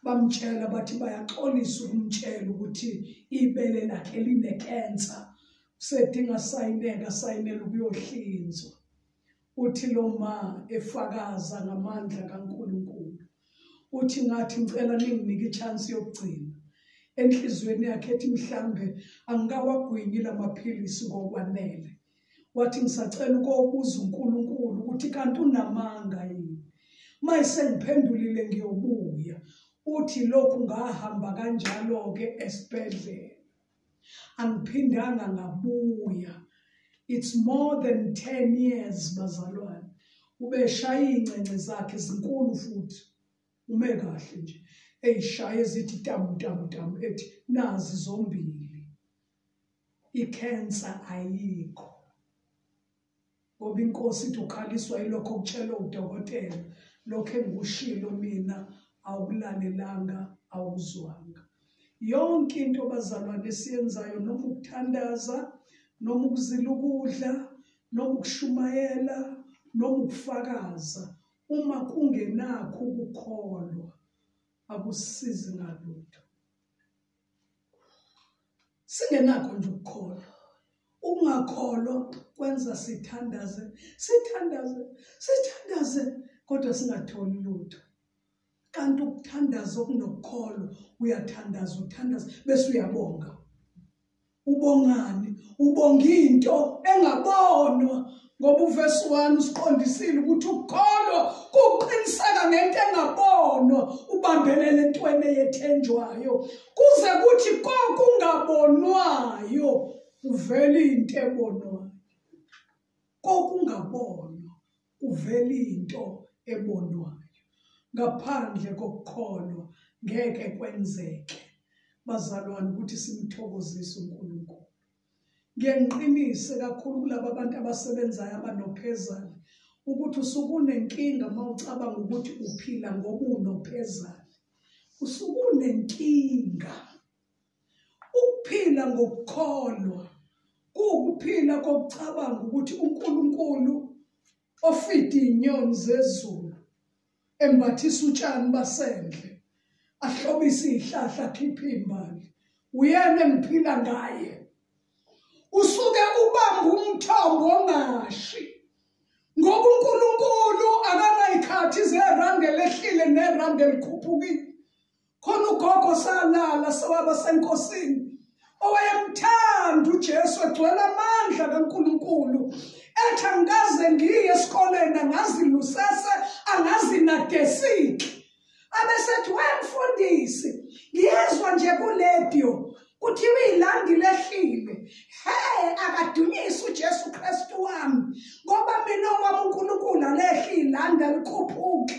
bamtshela bathi bayaxolisa ukumtshela ukuthi ibele lakhe linecancer usedinga sayineka sayinela ukuyohlinzwa uthi lo ma efakaza ngamandla kaNkuluNkulu uthi ngathi ngicela ninginike ichance yokugcina enhlizweni yakhe ethi mhlambe angikawagwinyi lamaphilisi ngokwanele wathi ngisacela ukobuza uNkulunkulu ukuthi kanti unamanga yini mayise ngiphendulile ngiyobuya uthi lokhu ngahamba kanjalo ke esibhedlela angiphindanga ngabuya it's more than 10 years bazalwane ubeshaya ingcengce zakhe zinkulu futhi ume kahle nje eyishaye zithi tamu tamu tamu ethi nazi zombili ikhensa ayikho ngoba inkosi ithi ukhaliswa yilokho okutshelwe udokotela lokho engikushilo mina awukulalelanga awuzwanga yonke into bazalwane esiyenzayo noma ukuthandaza noma ukuzila ukudla noma ukushumayela noma ukufakaza uma kungenakho ukukholwa akusizi ngalutho singenakho nje ukukholwa ukungakholwa kwenza sithandaze sithandaze sithandaze kodwa singatholi lutho kanti ukuthandaza okunokukholwa uyathandaza uthandaza bese uyabonga ubongani ubonga into engabonwa ngoba uvesi 1 usiqondisile ukuthi ukukholwa kuqiniseka ngento engabonwa ubambelele entweni eyethenjwayo kuze kuthi kokungabonwayo kuvele into ebonwayo kokungabonwa kuvela into ebonwayo. Ngaphandle kokukholwa ngeke kwenzeke bazalwane ukuthi simthokozise uNkulunkulu. Ngiyaniqinise kakhulu kulabo abantu abasebenzayo abanophezane ukuthi usukunenkinga uma ucabanga ukuthi uphila ngobunophezane. Usukunenkinga Ukuphila ngokukholwa kuwukuphila kokucabanga ukuthi uNkulunkulu ofida inyoni zezulu embathisa utshani basendle ahlobise izihlahla khipha imbali uyena engiphila ngaye usuke ubamba umthombo ongashi ngoba uNkulunkulu akanayikhathi zerandi elehlile nerandi elikhuphukile khona ugogo salala sewaba senkosini owayemthanda uJesu egcwele amandla kaNkuluNkulu ethi angikaze ngiye esikoleni angazi lusese angazi nadesiki abesethi wemfundisi ngiyezwa nje kuledio kuthiwa ilandi lehlile he akadunyise uJesu Kristu wami ngoba mina owami uNkulunkulu alehlile ande likhuphuke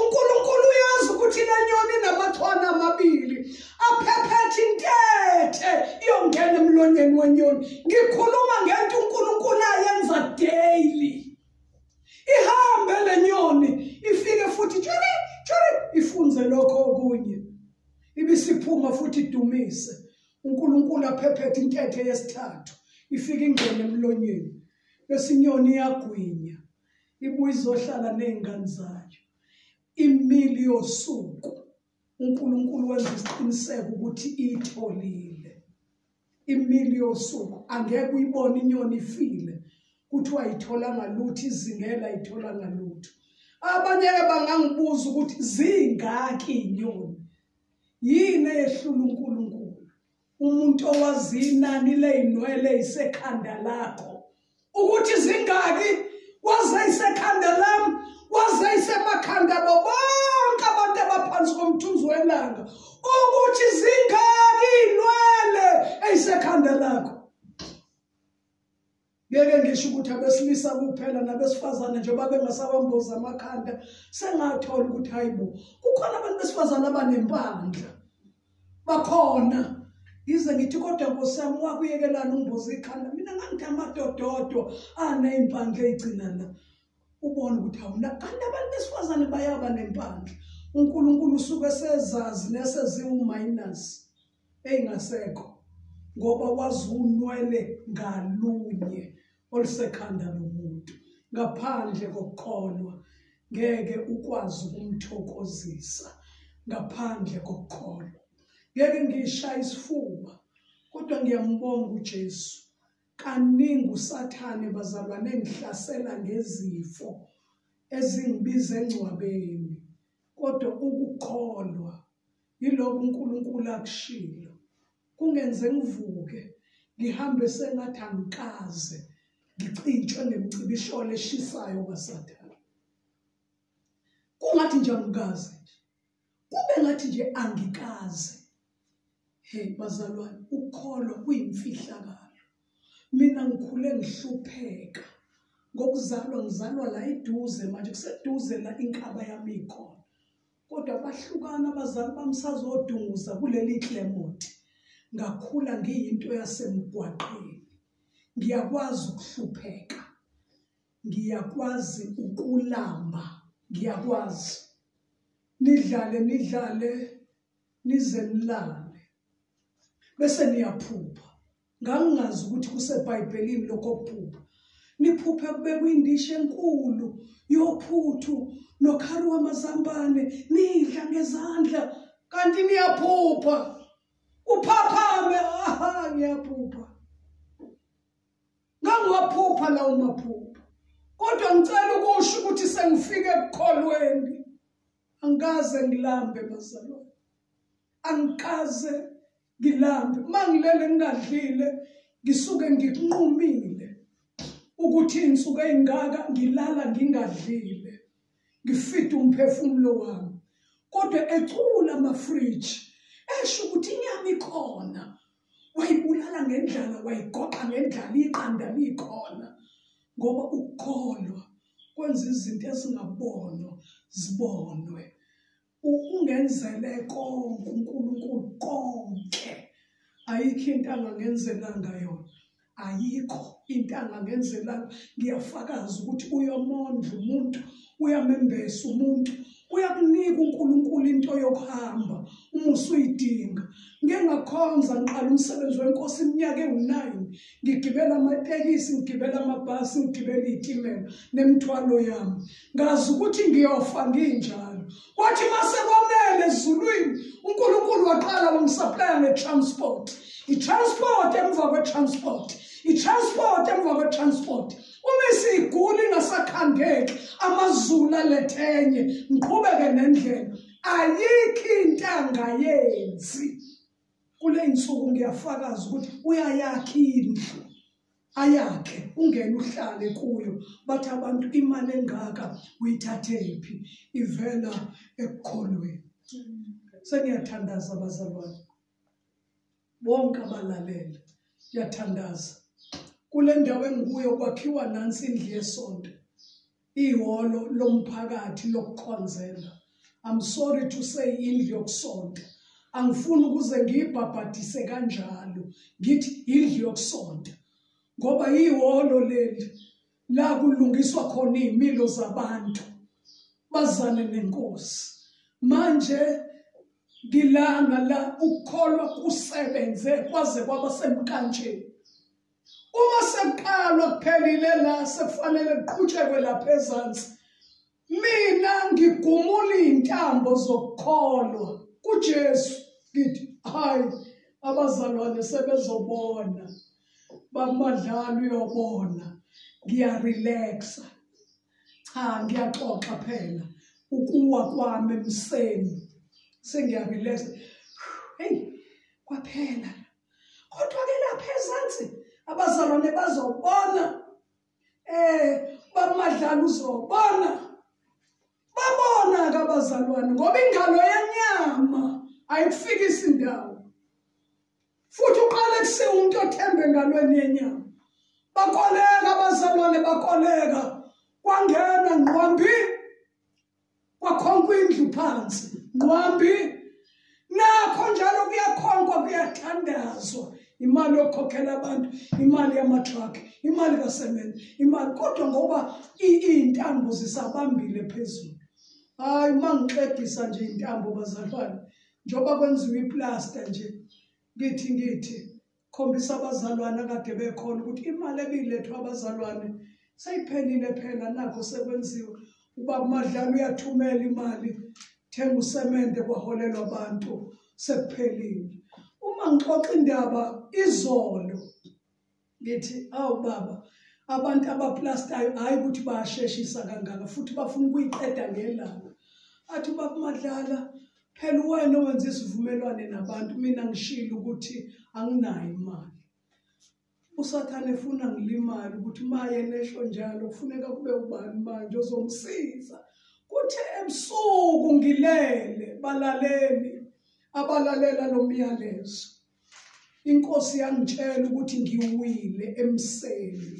uNkulunkulu uyazi ukuthi lenyoni namathwana amabili aphephethe intethe iyongena emlonyeni wenyoni ngikhuluma ngento uNkulunkulu ayenza daily ihambe lenyoni ifike futhi tshiri tshiri ifunze lokho okunye ibisiphuma futhi idumise uNkulunkulu aphephethe intethe yesithathu ifike ingene emlonyeni bese inyoni iyagwinya ibuye izohlala nezingane zayo imili yosuku uNkulunkulu wenza isiqiniseko ukuthi itholile imili yosuku angeke uyibone inyoni ifile kuthiwa ayitholanga lutho izingela ayitholanga lutho abanye ke bangangibuza ukuthi zingaki inyoni yini eyehlula uNkulunkulu umuntu owazi inani ley'nwele isekhanda lakho ukuthi zingaki waze isekhanda lam waze isemakhanda abo bonke abantu abaphansi komthunzi welanga ukuthi zingaki iy'nwele eyisekhanda lakho ngeke ngisho ukuthi abesilisa kuphela nabesifazane njengoba bengasabambozi amakhanda sengathola ukuthi hayi bo kukhona abantu besifazane abanempandla bakhona yize ngithi kodwa nkosi yami wakuyekelana umbozi ikhanda mina ngangithi amadododwa aney'mpandla ey'gcina la ubone ukuthi awuna kanti abantu besifazane bayaba nempandla unkulunkulu usuke sezazi neseziwu-minus engasekho ngoba wazunwele ngalunye olusekhanda lomuntu ngaphandle kokukholwa ngeke ukwazi ukumthokozisa ngaphandle kokukholwa ngeke ngishaya isifuba kodwa ngiyambonga uJesu kaningi usathane bazalwane engihlasela ngezifo ezingibiza engcwabeni kodwa ukukholwa Yilokhu uNkulunkulu akushilo. Kungenze ngivuke ngihambe sengathi angikaze ngicintshwe ngemcibisholo eshisayo kaSathane. Kungathi nje angikaze nje. Kube ngathi nje angikaze. Hey bazalwane, ukukholwa kuyimfihlakalo. Mina ngikhule ngihlupheka ngokuzalwa ngizalwa la iduze manje kuseduze la inkaba yami ikhona. kodwa bahlukana abazali bami sazodunguza kuleli Clement ngakhula ngiyinto yasemgwaqeni ngiyakwazi ukuhlupheka ngiyakwazi ukulamba ngiyakwazi nidlale nidlale nize nilale bese niyaphupha Ngangingazi ukuthi kuseBhayibhelini lokho kuphupha. Niphuphe kubekwa indishi enkulu yophuthu nokhari wamazambane nidla ngezandla kanti niyaphupha. Uphaphame aha ngiyaphupha. Ngangiwaphupha lawo maphupha. Kodwa ngicela ukusho ukuthi sengifike ekukholweni. Angikaze ngilambe bazalwane. Angikaze ngilambe uma ngilele ngingadlile ngisuke ngikunqumile ukuthi insuku eyingaka ngilala ngingadlile ngifida umphefumulo wami kodwa ecula amafridge esho ukuthi inyama ikhona wayibulala ngendlala wayigoqa ngendlala iqanda likhona ngoba ukukholwa kwenza izinto ezingabonwa zibonwe ungenzele konke uNkulunkulu konke ayikho into angangenzelanga yona ayikho into angangenzelanga ngiyafakaza ukuthi uyomondla umuntu uyamembesa umuntu uyakunika uNkulunkulu into yokuhamba uma usuyidinga ngengakhonza ngiqala umsebenzi wenkosi iminyaka ewu-9 ngigibela amatekisi ngigibela amabhasi ngigibela iy'timela nemithwalo yami ngazi ukuthi ngiyofa nginjalo kwathi mase kwamele ezulwini unkulunkulu waqala wangisaplaya nge-transport i-transport emva kwe-transport i-transport emva kwe-transport uma isiguli ingasakhandeki amazulu alethenye ngiqhubeke nendlela ayikho into angayenzi kule nsuku ngiyafakaza ukuthi uyayakha indlu ayakhe ungene uhlale kuyo bathi abantu imali engaka uyithathephi ivela ekukholweni sengiyathandaza abazalwane bonke abalalele ngiyathandaza kule ndawo engikuyo kwakhiwa nansi indlu yesonto ihholo lomphakathi lokukhonzela i'm sorry to say indlu yokusonta angifuni ukuze ngiyibhabhadise kanjalo ngithi indlu yokusonta ngoba ihholo leli la kulungiswa khona izimilo zabantu bazane nenkosi manje ngilanga la ukukholwa kusebenze kwaze kwaba semkanjeni uma sekuqalwa kuphelile la sekufanele kuqhutshekwe lapha ezansi mina ngigumula izintambo zokukholwa kuJesu ngithi hayi abazalwane sebezobona bamadlalo uyobona ngiyarelaxa cha ngiyaxoxa phela ukuwa kwami emseni sengiyarelaxa hey kwaphela kodwa ke lapha ezansi abazalwane bazobona eh bamadlala uzobona babona ke abazalwane ngoba ingalo yenyama ayifikisi ndawo futhi uqale kusiwa umuntu othembe engalweni yenyama bakoleka abazalwane bakoleka kwangena ngqwambi kwakhonkwa indlu phansi nqwambi nakho njalo kuyakhonkwa kuyathandazwa imali yokukhokhela abantu imali yamatruck imali kasemende imali kodwa ngoba iy'ntambo zisabambile phezulu hhayi uma ngixegisa nje iy'ntambo bazalwane njengoba kwenziwa iplasta nje ngithi ngithi khombisa abazalwane akade bekhona ukuthi imali ebiyilethwa abazalwane seyiphelile phela nakho sekwenziwa uba kumadlala uyathumela imali thenga usemende kwaholelwa abantu sekuphelile uma ngixoxa indaba izolo ngithi awu baba abantu abaplastayo hhayi ukuthi bayasheshisa kangaka futhi bafuna ukuyiqeda ngelanga athi ubakumadlala Phela uwena owenza isivumelwane nabantu mina ngishilo ukuthi anginayo imali. USathane efuna ngilimale ukuthi maye nehlo njalo kufuneka kube ubani manje ozomsiza. Kuthe ebusuku ngilele balaleli abalalela lo myalezo. Inkosi yangitshela ukuthi ngiwile emseni.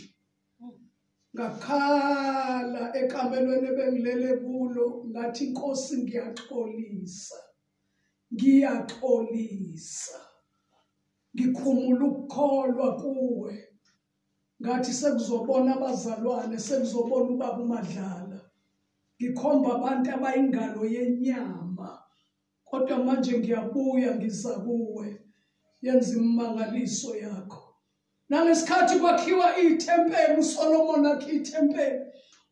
ngakhala ekamelweni ebengilele kulo ngathi inkosi ngiyaxolisa ngiyaxolisa ngikhumula ukukholwa kuwe ngathi sekuzobona abazalwane sekuzobona ubaba umadlala ngikhomba abantu abayingalo yenyama kodwa manje ngiyabuya ngiza kuwe yenza imimangaliso yakho nangesikhathi kwakhiwa ithempeli uSolomon akhe ithempeli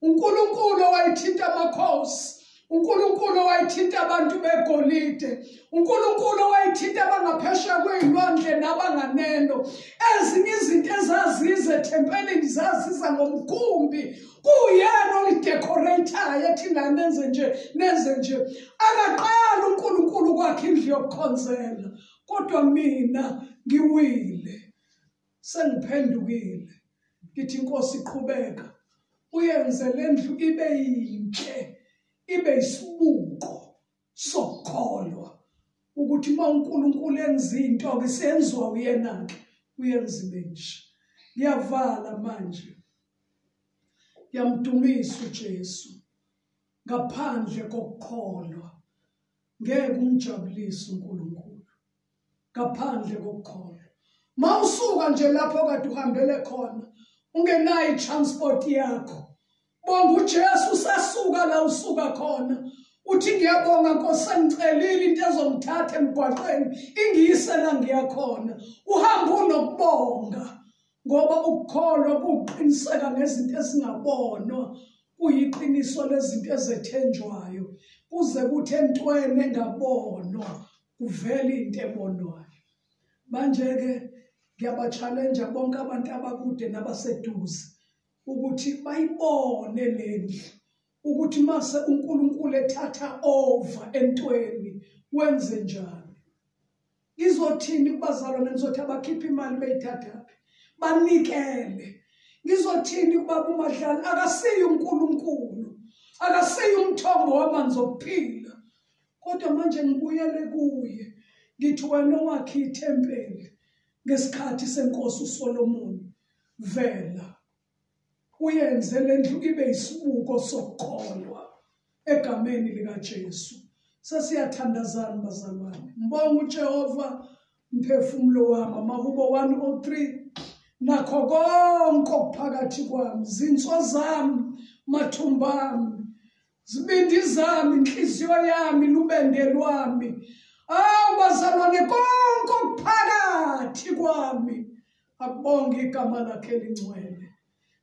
uNkulunkulu owayithinta amakhosi uNkulunkulu owayithinta abantu begolide uNkulunkulu owayithinta abangaphesheya kwezilwandle nabanganeno ezinye izinto ezaziza ethempelini zaziza ngomkhumbi kuyena olidecorateayo ethi nani nenze nje nenze nje akaqala uNkulunkulu kwakhe indlu yokukhonzela kodwa mina ngiwile sengiphendukile ngithi inkosi iqhubeka uyenze lendlu ibe yinhle ibe isibuko sokukholwa ukuthi uma uNkulunkulu enza into ke senziwa uyena ke uyenza ibe nje ngiyavala manje ngiyamdumisa uJesu ngaphandle kokukholwa ngeke umjabulise uNkulunkulu ngaphandle kokukholwa mawusuka nje lapho kade uhambele khona ungenayo transport yakho bonga uJesu sasuka la usuka khona uthi ngiyabonga Nkosi sengicelile into ezongithatha emgwaqeni ingiyise la ngiyakhona uhamba unokubonga ngoba ukukholwa kuqiniseka ngezinto ezingabonwa kuyiqiniso lezinto ezethenjwayo kuze kuthi entweni engabonwa kuvele into ebonwayo manje-ke ngiyabatshalenja bonke abantu abakude nabaseduze ukuthi bayibone le ndlu ukuthi mase unkulunkulu ethatha over entweni wenze njani ngizothini kubazalwane ngizothi abakhiphe imali beyithathaphi banikele ngizothini kubaba umadlala akasiye unkulunkulu akasiye umthombo wamanzi okuphila kodwa manje ngibuyele kuye ngithi wena owakhe ithempeli ngesikhathi senkosi usolomoni vela Uyenze le ndlu ibe isibuko sokukholwa egameni likaJesu. Sesiyathandazana bazalwane. Mbonga uJehova mphefumulo wami amahubo 103 nakho konke okuphakathi kwami zinso zami mathumba ami zibindi zami inhliziyo yami lubende lwami awu bazalwane konke okuphakathi kwami akubonge igama lakhe elingcwele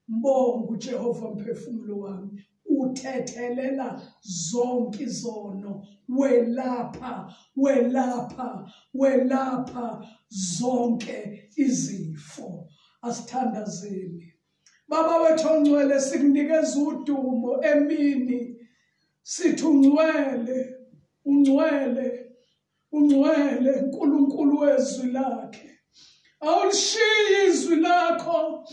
mbonga ujehova mphefumulo wami uthethelela zonke izono welapha welapha welapha zonke izifo asithandazeni Baba wethu ongcwele sikunikeza udumo emini sithi ungcwele ungcwele ungcwele uNkulunkulu wezwi lakhe awulishiyi izwi lakho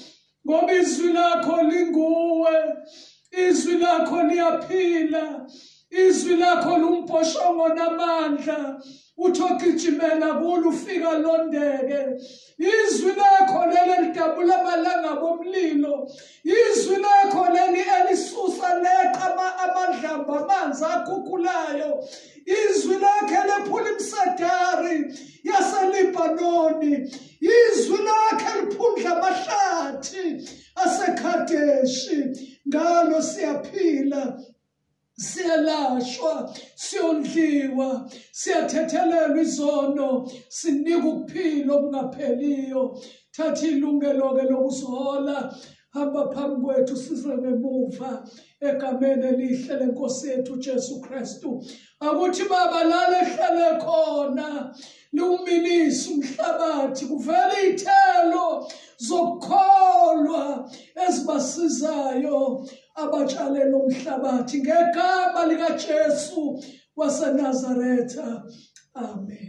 ngoba izwi lakho linguwe izwi lakho liyaphila izwi lakho lumbhoshongo namandla uthi ogijimela kulo ufika londeke izwi lakho leli lidabula amalanga bomlilo izwi lakho leli elisusa leqa amadlamba amanzi akhukhulayo izwi lakhe lephula imisedari yaselibanoni izwi lakhe liphundla amahlathi asekhadeshi ngalo siyaphila siyalashwa siyondliwa siyathethelelwa izono sinika ukuphila okungapheliyo thatha ilungelo-ke lokusihola hamba phambi kwethu size ngemuva egameni elihle lenkosi yethu ujesu kristu akuthi baba lale hlale khona liwuminisa umhlabathi kuvela iy'thelo zokukholwa ezibasizayo abatshalele umhlabathi ngegama likaJesu waseNazaretha amen